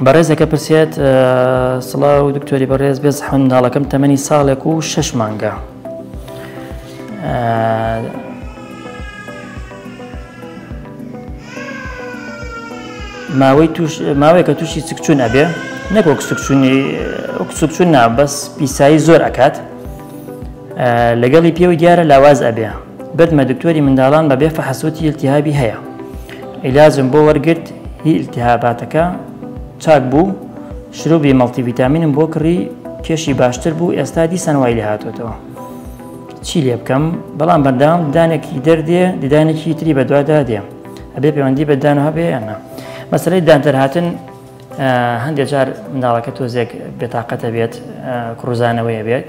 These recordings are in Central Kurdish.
بەڕێزەکە پرسێت سڵاو و دکتۆری بەڕێز بێز حەنداڵەکەم تەمەنی ساڵێک و شش مانگە ماوەی ماوەیەکە تووشی سکچون ئەبێ نەکۆک سکچونی سکچون نابەس پیسایی زۆر ئەکات لەگەڵی پێوە دیارە لاواز ئەبێ بردمە دکتۆری منداڵان بە بێ فەحس وتی التهابی هەیە عیلاجم بۆ وەرگرت هی التهاباتەکە چاک بوو شروبی مەڵتی ڤیتامینم بۆ کڕی کێشی باشتر بوو ئێستا دیسان وای لێ هاتوێتەوە چی لێ بکەم بەڵام بەردام دانێکی دەردێ دیدانێکی تری بەدوادا دێم ئەبێ پەیوەندی بەدان هەبێ یانە مەسلەی دانتەرهاتن هەندێک جار منداڵەکە تۆزێک بێتاقەتە بێت کڕوزانەوەیە بێت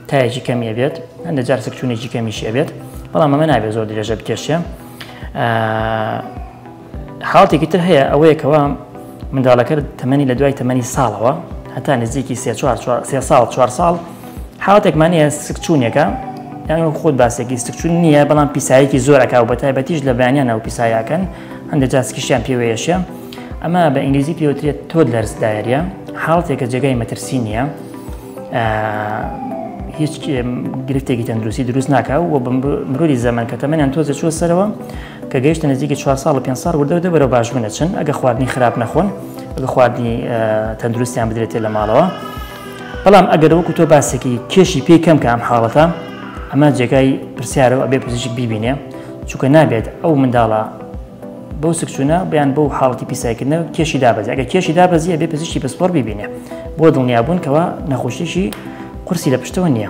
تایەکی کەمیە بێت هەندە جار سکچوونێکی کەمیشە بێت بەڵام ئەمە نابێت زۆر درێژە بکێشێ حاڵتێکی تر هەیە ئەوەیەکەوە منداڵەکە تەمەنی لە دوای تەمەنی ساڵەوە هەتا نزیکی سێ ساڵ چوار ساڵ حاڵتێکمانە سکچوونێکە یان خۆت باسێکی سکچون نییە بەڵام پیسایەکی زۆرەکە و بە تایبەتیش لە بەیانیان ئەو پیسایەکەن هەندێک جار سکیشیان پێوەیەشە ئەمە بە ئینگلیزی پێوترێت تۆد لەرز دایریە حاڵتێکە جێگای مەترسی نییە هیچ گرفتێکی تەندروستی دروست ناکە و بە مرۆری زەمن کە تەمەیان تۆزە چوە سەرەوە کە گەیشتە نزیکی 4 ساڵ و 5 ساڵ وردە دەبەرە باشبوونە چن ئەگە خواردنی خراپ نەخۆن ئەگە خواردنی تەندروستیان بدرێتێ لە ماڵەوە بەڵام ئەگەر وەکو تۆ باسێکی کێشی پێی کەم کە ئەم حاڵەتە ئەمە جێگای پرسیارەوە ئەبێ پزیشک بیبینێ چونکە نابێت ئەو منداڵە بەو سکچوونە بیان بۆ حاڵەتی پیسایکردنە کێشی دابەزی ئەگە کێشی دابەزیە بێ پزیشتی پسپۆر ببینێ بۆ دڵنیابوون کەەوە نەخۆشیشی قورسی لە پشتەوە نییە.